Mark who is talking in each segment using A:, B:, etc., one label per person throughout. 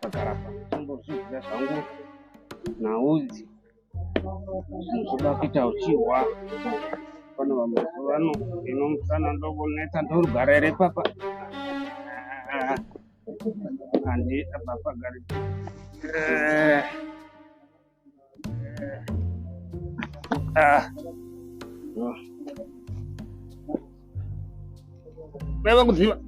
A: pakarapa chambozviziva zvangu naudzi zvoda kuita uchihwa pane vamazuva ano ino musana ndokunetsa ndorugara here papa handi apapa gari Beba kudziva.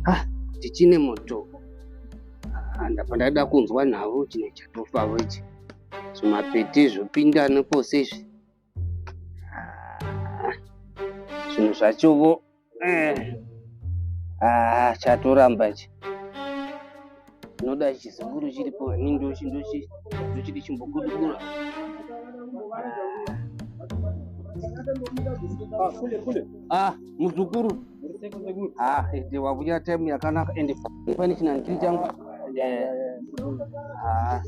A: Ah, tichine moto. Ah, ndapa ndaida kunzwa navo chine chatofavo ichi. Zvimapete zvopinda nepose izvi. zvinhu zvachovo eh. ah, chatoramba ichi unoda chizukuru chiripo ini ndochiti chimbokudukura ah, muzukuru ah, ende wakuya time yakanaka ende pane chinandiri changu eh. ah.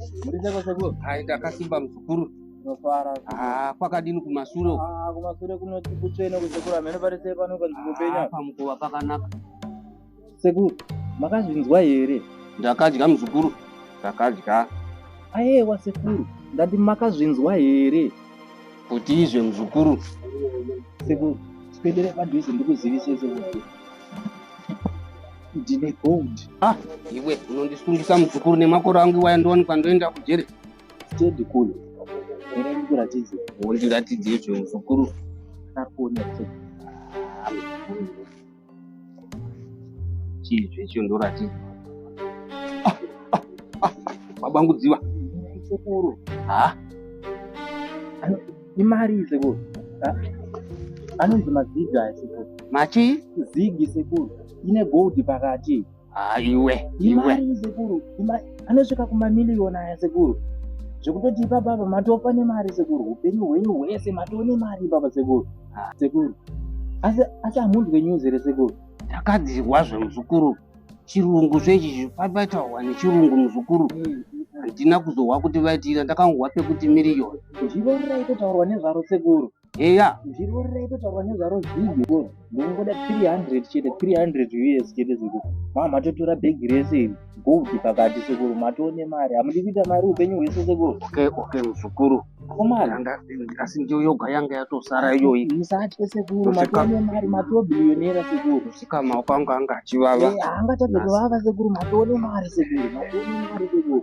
A: ndakasimba muzukuru Ndofara. Ah, kwakadini kumasure uko? Ah, kumasure kunoti
B: kutsvene kuzekura mhene pari sei pano kanzi kupenya. Ah, pamukova pakanaka. Sekuru, makazvinzwa here? Ndakadya muzukuru.
A: Ndakadya. Ayewa
B: sekuru, ndati makazvinzwa here? Kuti
A: izve muzukuru.
B: Sekuru, tipendere padhuze ndikuzivise sekuru. Ndine gold. Ah, iwe
A: unondisungisa muzukuru nemakore angu iwaya ndowanikwa ndoenda kujere. stendi kuno
B: ere ndikuratidze wondiratidze izvo
A: muzukuru ndakuona chii zvecho ndoratidza mabangudziwa sekuru
B: ha imari sekuru anonzi mazigi aya sekuru machi
A: zigi sekuru
B: ine gold pakati Ah, iwe
A: iwe sekuru
B: anosvika kumamiliyoni aya sekuru zvekutoti ipapa apa matofa nemari sekuru upenyu hwenyu hwese matoo nemari ipapa sekuru ah, sekuru asi asi hamunzwe news here sekuru ndakadzirwa
A: zvemuzukuru chirungu zvechi zvipapatawa nechirungu muzukuru hmm. handina kuzohwa kuti vaitiira ndakangohwa pekuti miriyoni zvivo riraitotaurwa
B: nezvaro sekuru eya zvirwere raitotaurwa nezvaro zvigo ndongoda 300 chete 300 us chete zvigo maa matotora bhegi rese iri gold pakati sekuru matoone mari hamudi kuita mari upenyu hwese sekuru okay okay muzukuru
A: asi ndiyo yoga yanga yatosara iyoyi musatye sekuru
B: matoone mari matobillionera sekuru musikama wakanga anga
A: achivava eh, angatadze kuvava
B: sekuru matoone mari sekuru matoone mari sekuru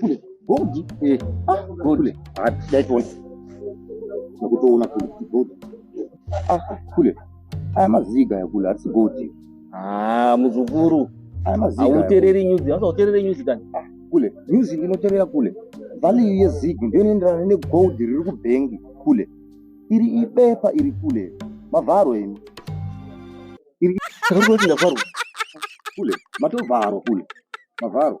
A: kule gold
B: eh ah
A: gold ah that one
B: nakutoona kule gold ah kule aya maziga ya kule asi gold ah muzukuru
A: aya maziga
B: autereri news hasa uterere news kani ah, kule news inoterera kule value yezig ndiyo inoenderana negold riri kubhengi kule iri ibepa iri kule mavharo imi iri saka kuti ndavharwa kule matovharwa kule mavharo